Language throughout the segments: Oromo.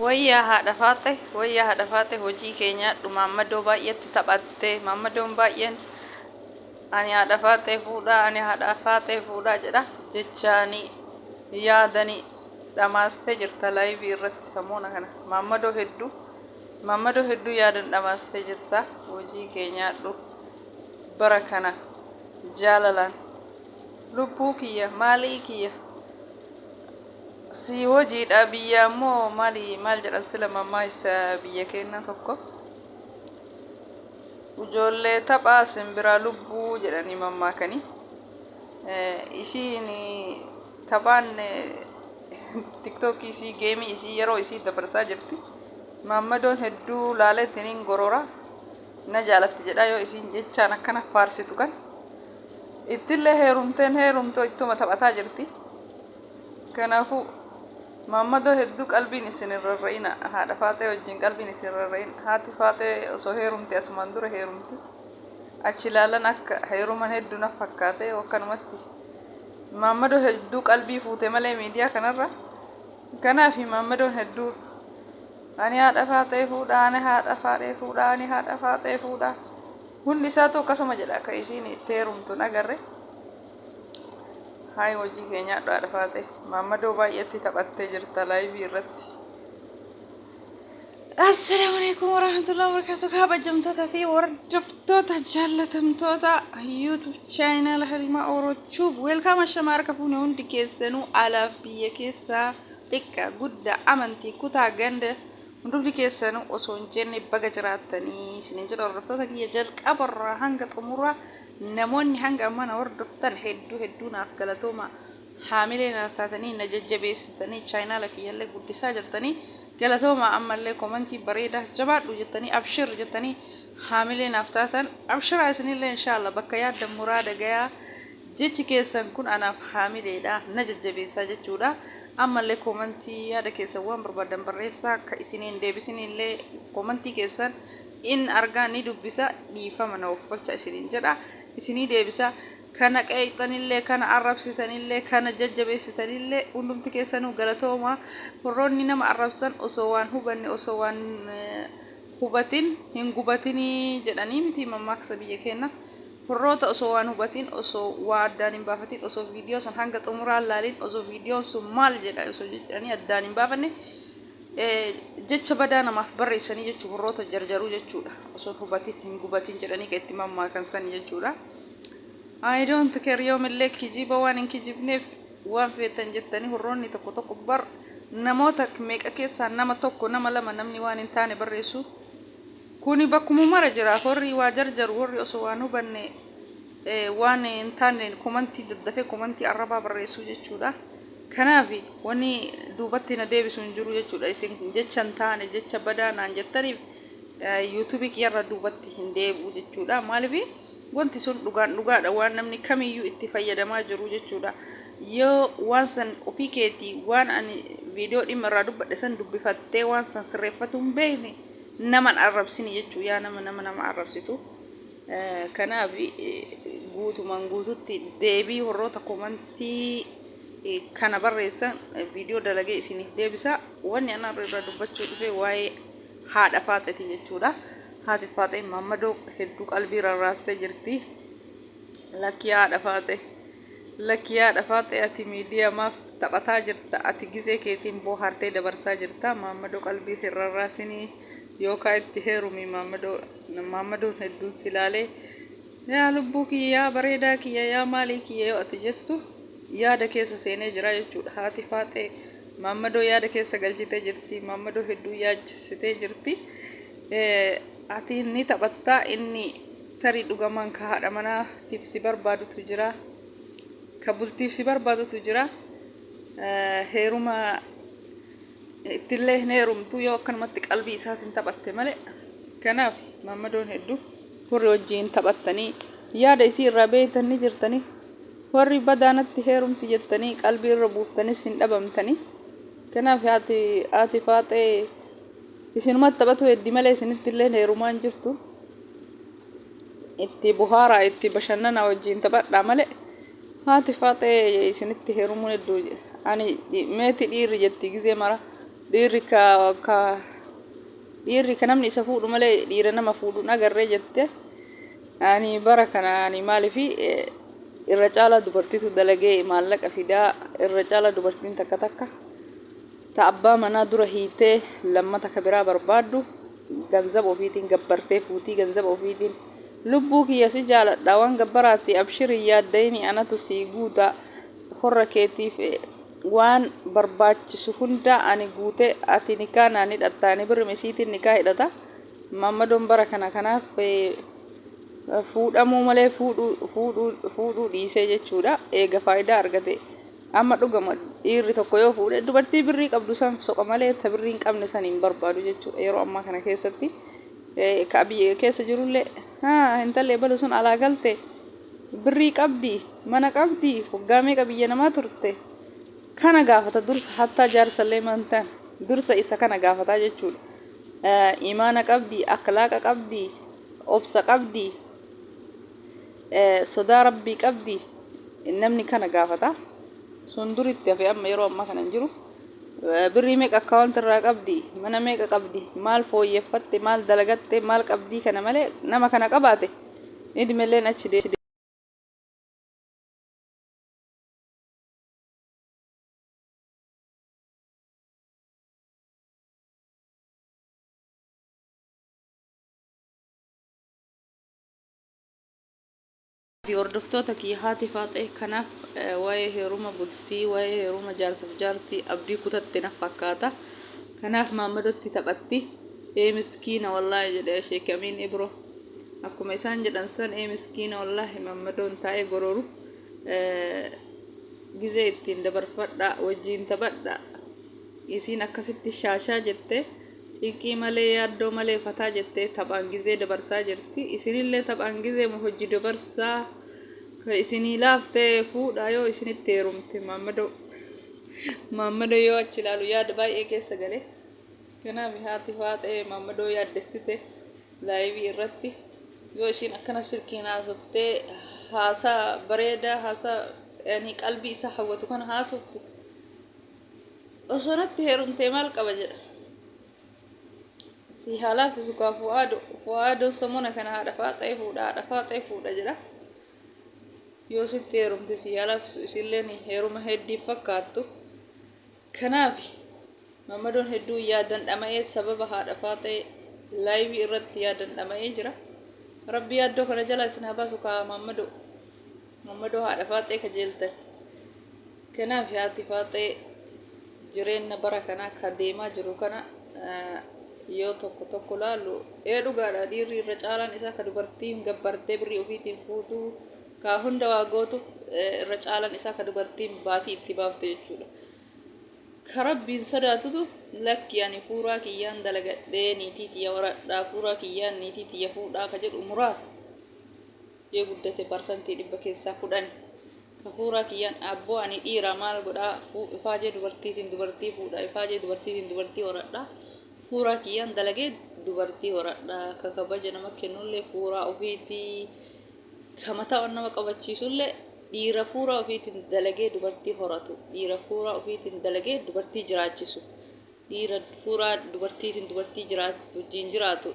Wayyaa haadha faaxe, wayyaa haadha faaxe hojii kee nyaadhu maammadoo baay'eetti taphatte. Maammadoon baay'een ani haadha faaxe fuudhaa, ani haadha faaxe fuudhaa jedha. Jechaanii yaadanii dhamaastee jirta laayivii irratti samoona kana. Maammadoo hedduu maammadoo hedduu yaadan dhamaastee jirta. Hojii kee nyaadhu. bara kana jaalalaan lubbuu kiyya maalii kiyya sii hojiidha biyya ammoo maali maal jedhan sila mammaa isa biyya keenya tokko ijoollee taphaa simbiraa lubbuu jedhanii mammaakanii isiin taphaan tiktookii isii geemii isii yeroo isii dabarsaa jirti maammadoon hedduu laaleetiin hin gorora na jaalatti jedha yoo isiin jechaan akkana faarsitu kan ittillee heerumteen heerumtoo ittuma taphataa jirti kanaafuu maammadoo hedduu qalbiin isin hin rarra'ina haadha faaxee wajjin qalbiin isin rarra'in haati faaxee osoo heerumte asumaan dura heerumti achi ilaalan akka heeruman hedduu naf fakkaate akkanumatti maammadoo hedduu qalbii fuute malee miidiyaa kanarra kanaafi maammadoon hedduu Ani haadha faaxeefuudha, ani haadha faaxeefuudha, ani haadha faaxeefuudha. Hundi isaatu akkasuma jedha akka isiin itti heerumtu hin agarre. Haay hojii kee nyaadhu haadha faaxee. Maammadoo baay'eetti taphattee jirta laayivii irratti. Assalaamu alaikum warahmatullahi wabarakatuh kabajamtoota fi hordoftoota jaallatamtoota YouTube channel Halimaa Oro Tube welcome ashama harka fuune hundi keessanuu alaaf biyya keessaa xiqqa, gudda, amanti, kuta, ganda hundumti keessanu osoo hin jenne baga jiraattani isinin jedha hordoftoota kiyya jalqaba irraa hanga xumura namoonni hanga amma na hordoftan hedduu hedduu naaf galatooma haamilee naaf taatanii na jajjabeessitanii chaayinaala kiyyallee guddisaa jirtanii galatooma ammallee komantii bareeda jabaadhu jettanii abshir jettanii haamilee naaf taatan abshiraa isinillee inshaalla bakka yaaddan muraada gayaa Jechi keessan kun anaaf haamileedha, na jajjabeessa jechuudha. Ammallee koomantii yaada keessan waan barbaaddan barreessaa ka isin hin deebisinillee koomantii keessan in argaa ni dubbisa dhiifama na offolcha isiniin jedha isinii deebisa kana qeeqxanillee kana arrabsitanillee kana jajjabeessitanillee hundumti keessanuu galatooma horroonni nama arrabsan osoo waan hubanne osoo waan hubatin hin gubatinii jedhanii miti mammaaksa biyya keenna Warroota osoo waan hubatiin, osoo waa addaan hin baafatiin, osoo viidiyoo san hanga xumuraa hin laaliin, osoo viidiyoon sun maal jedha osoo jedhanii addaan hin baafanne jecha badaa namaaf barreessanii jechuun warroota jarjaruu jechuudha. Osoo hubatiin hin gubatiin jedhanii kan itti mammaakan sani jechuudha. I don't care yoomillee kijiba waan hin kijibneef waan feetan jettanii warroonni tokko tokko bar namoota meeqa keessaa nama tokko nama lama namni waan hin taane barreessu. Kuni bakkumu mara jira horri waa jarjaru horri oso waan hubanne waan hin taanne komanti daddafe komanti arrabaa barreessu jechuudha kanaafi wani duubatti na deebisu hin jiru jechuudha isin jecha hin taane jecha badaa naan jettaniif yuutuubii kiyyarra duubatti hin deebi'u jechuudha maalifi wanti sun dhugaan dhugaadha waan namni kamiyyuu itti fayyadamaa jiru jechuudha yoo waan san ofii keetii waan ani viidiyoo dhimma irraa dubbadhe san dubbifattee waan san sirreeffatu hin beekne Nama hin arrabsini jechuu yaa nama nama nama arrabsitu kanaaf guutumaan guututti deebii warroota komantii kana barreessan viidiyoo dalagee isiniif deebisa wanni anaa irraa dubbachuu dhufe waa'ee haadha faaxeeti jechuudha haati faaxee mammadoo hedduu qalbii rarraastee jirti lakkii haadha faaxee Lakki yaadha faaxee ati miidiya maaf taphataa jirta ati gizee keetiin boohaartee dabarsaa jirta maammadoo qalbii hin rarraasinii yookaa itti heerumii maammadoo maammadoon hedduun si laalee yaa lubbuu kiyya yaa bareedaa kiyya yaa maalii kiyya yoo ati jettu yaada keessa seenee jiraa jechuudha haati faaxee maammadoo yaada keessa galchitee jirti maammadoo hedduu yaachistee jirti ati ni taphattaa inni Tarii dhugamaan ka haadha manaatiif si barbaadutu jira, ka bultiif si barbaadutu jira. Heeruma ittillee hin heerumtu yoo akkanumatti qalbii isaatiin taphatte malee. Kanaaf maammadoon heddu warri wajjiin taphattanii yaada isii irraa beeytan ni jirtanii. Warri badaanatti heerumti jettanii qalbii irra buuftanis hin dhabamtanii. Kanaaf haati haati faaxee isinumatti taphatuu heddi malee isinittillee heerumaa hin jirtu. itti buhaaraa itti bashannana wajjiin taphadhaa malee haati faaxee isinitti heerumuun hedduu ani meeti dhiirri jetti gizee mara dhiirri ka ka dhiirri ka namni isa fuudhu malee dhiira nama fuudhuun agarree jette ani bara kana ani maaliif irra caalaa dubartiitu dalagee maallaqa fidaa irra caalaa dubartiin takka takka ta abbaa manaa dura hiitee lammata ka biraa barbaaddu Ganzab ofiitiin gabbartee fuutii ganzaba ofiitiin Lubbuu kiyya si jaaladha waan gabbaraati abshir hin yaaddayini anatu sii guuta horra keetiif waan barbaachisu hundaa ani guute ati nikaa naan hidhatta ani birrim isiitiin nikaa hidhata maammadoon bara kana kanaaf fuudhamuu malee fuudhuu fuudhuu fuudhuu dhiisee jechuudha eega faayidaa argate Amma dhugama dhiirri tokko yoo fuudhe dubartii birrii qabdu san soqa malee ta birrii hin qabne san hin barbaadu jechuudha yeroo ammaa kana keessatti ka biyya keessa jirullee haa hintallee balu sun alaa galte birrii qabdi mana qabdi waggaa meeqa biyya namaa turte kana gaafata dursa hattaa jaarsallee mantan dursa isa kana gaafataa jechuudha imaana qabdi akhlaaqa qabdi obsa qabdi Sodaa Rabbii qabdi namni kana gaafata. Sun dur itti hafe amma yeroo ammaa kana hin jiru. Birrii meeqa akkaawwanti irraa qabdi? Mana meeqa qabdi? Maal fooyyeffatte? Maal dalagatte? Maal qabdii kana malee nama kana qabaate idmeelleen achi deemti. Fi hordoftoota kiyya haati faaxee kanaaf waa'ee heeruma bultii waa'ee heeruma jaarsaf jaartii abdii kutatte naf fakkaata kanaaf maammadotti taphatti ee miskiina wallaahi jedhe sheek amiin ibro akkuma isaan jedhan san ee miskiina wallaahi maammadoon taa'ee gorooru gizee ittiin dabarfadha wajjiin taphadha isiin akkasitti shaashaa jette Cinqii malee yaaddoo malee fataa jettee taphaan gizee dabarsaa jirti. Isinillee taphaan gizeema hojji dabarsaa ka isinii laafte fuudhaa yoo isinitti heerumte maammado maammado yoo achi ilaalu yaada baay'ee keessa gale. Kanaaf haati faaxee maammadoo yaaddessite laayivii irratti yoo ishiin akkana silkiin haasoftee haasaa bareedaa haasaa yani qalbii isaa hawwatu kana haasoftu Osoo natti heerumtee maal qaba jedha. Si haa laaffisu kaa fu'aado. Fu'aadoon samona kana haadha faaxee fuudha haadha faaxee fuudha jedha. Yoo sitti heerumte si haa laaffisu isilleen heeruma heddiin fakkaattu. Kanaaf mamadoon hedduu yaadan dhama'ee sababa haadha faaxee laayivii irratti yaadan dhama'ee jira. Rabbi yaaddoo kana jalaa isin haa baasu kaa mamadoo. Mamadoo haadha faaxee kajeeltan. Kanaaf haati faaxee jireenna bara kanaa ka deemaa jiru kana yoo tokko tokko laalu ee dhugaadha dhiirri irra caalaan isaa ka dubartiin gabbartee birrii ofiitiin fuutu ka hunda waa gootuuf irra caalaan isaa ka dubartiin baasii itti baafte jechuudha. Ka rabbiin sodaatutu lakki ani fuuraa kiyyaan dalagadhee niitii tiyya waradhaa fuuraa kiyyaan niitii tiyya fuudhaa ka jedhu muraasa. Yoo guddate parsantii dhibba keessaa kudhani. Kafuuraa kiyyaan abboo ani dhiira maal godhaa fu ifaajee dubartiitiin dubartii fuudha ifaajee dubartiitiin dubartii horadha fuuraa kiyyaan dalagee dubartii horadha ka kabaja nama kennullee fuuraa ofiitii ka mataa on nama qabachiisullee dhiira fuuraa ofiitiin dalagee dubartii horatu dhiira fuuraa ofiitiin dalagee dubartii jiraachisu Dhiira fuuraa dubartiitiin dubartii jiraatu wajjin jiraatu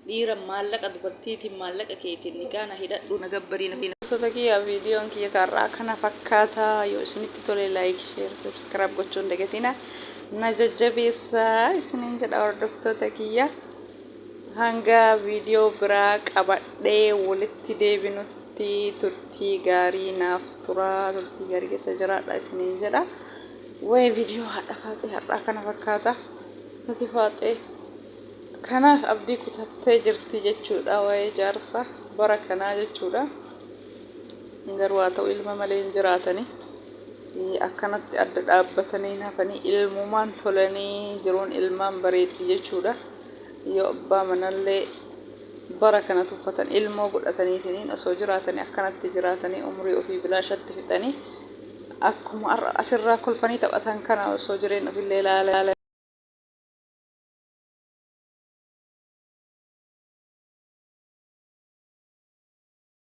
dhiira maallaqa dubartiitiin maallaqa keetiin nikaa na hidhadhu na gabbarii na hidha. Gosoota kiyya viidiyoon kiyya kaarraa kana fakkaata yoo isinitti tole like share subscribe gochuu hin dagatina na jajjabeessa isiniin jedha hordoftoota kiyya hanga viidiyoo biraa qabadhee walitti deebinutti turtii gaarii naaf turaa turtii gaarii keessa jiraadha isiniin jedha. Waa'ee viidiyoo haadha faaxee har'aa kana fakkaata. Nuti faaxee kanaaf abdii kutattee jirti jechuudha waa'ee jaarsa bara kanaa jechuudha. Garuu haa ta'u ilma malee hin jiraatanii akkanatti adda dhaabbatanii hafanii ilmumaan tolanii jiruun ilmaan bareetti jechuudha. Yoo abbaa manallee bara kana tuffatan ilmoo godhataniitiin osoo jiraatanii akkanatti jiraatanii umrii ofii bilaashatti fixanii Akkuma har'a asirraa kolfanii taphatan kana osoo jireen ofillee ilaalan.